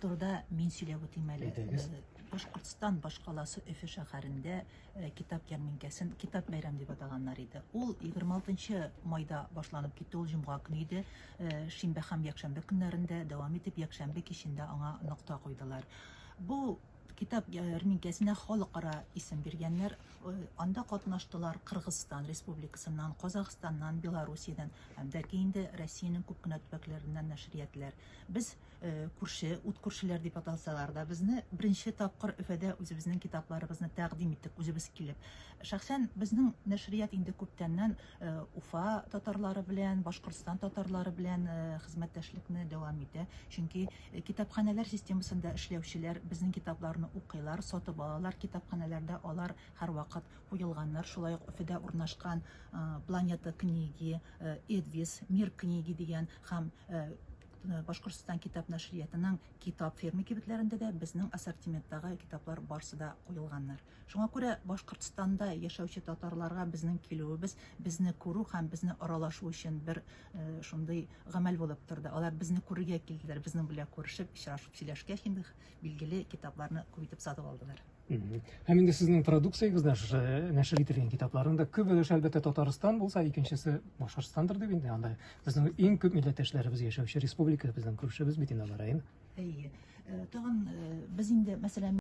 Турыда мин сөйләп үтим әле. Әйдәгез. Башкортстан башкаласы Өфе шәһәрендә китап ярминкәсен Китап бәйрәм дип атаганнар иде. Ул 26 нчы майда башланып китте, ул җомга көне иде. Шимбә һәм якшәмбе көннәрендә дәвам итеп, якшәмбе кичендә аңа нокта куйдылар. Бу китап ярминкәсенә халыкара исем биргәннәр. Анда катнаштылар Кыргызстан Республикасыннан, Казахстаннан, Белоруссиядән һәм дә ки инде Россиянең күп кенә төбәкләреннән нәшриятләр. Без Күрше, ут күршеләр дип аталсалар да, безне беренче тапкыр Өфәдә үзебезнең китапларыбызны тәкъдим иттек, үзебез килеп. Шәхсән безнең нәшрият инде күптәннән Уфа татарлары белән, Башкортстан татарлары белән хезмәттәшлекне дәвам итә. Чөнки китапханәләр системасында эшләүчеләр безнең китапларны укыйлар, сатып алалар, китапханәләрдә алар һәрвакыт куелганнар. Шулай ук Өфәдә урнашкан Планета книги, Эдвис, Мир книги дигән һәм Башкортстан китап нәшриятының Китап фермы кибетләрендә дә безнең ассортименттагы китаплар барсы да куелганнар. Шуңа күрә Башкортстанда яшәүче татарларга безнең килүебез безне күрү һәм безне аралашу өчен бер шундый гамәл булып торды. Алар безне күрергә килделәр, безнең белән күрешеп, очрашып сөйләшкәч инде, билгеле, китапларны күп итеп сатып алдылар. Һәм инде сезнең продукциягез дә шушы нәшер ителгән китапларның да күп өлеше әлбәттә Татарстан булса, икенчесе Башкортостандыр дип инде анда безнең иң күп милләттәшләребез яшәүче республика безнең күршебез бит инде алар район. Әйе. Э, тагын э, без инде мәсәлән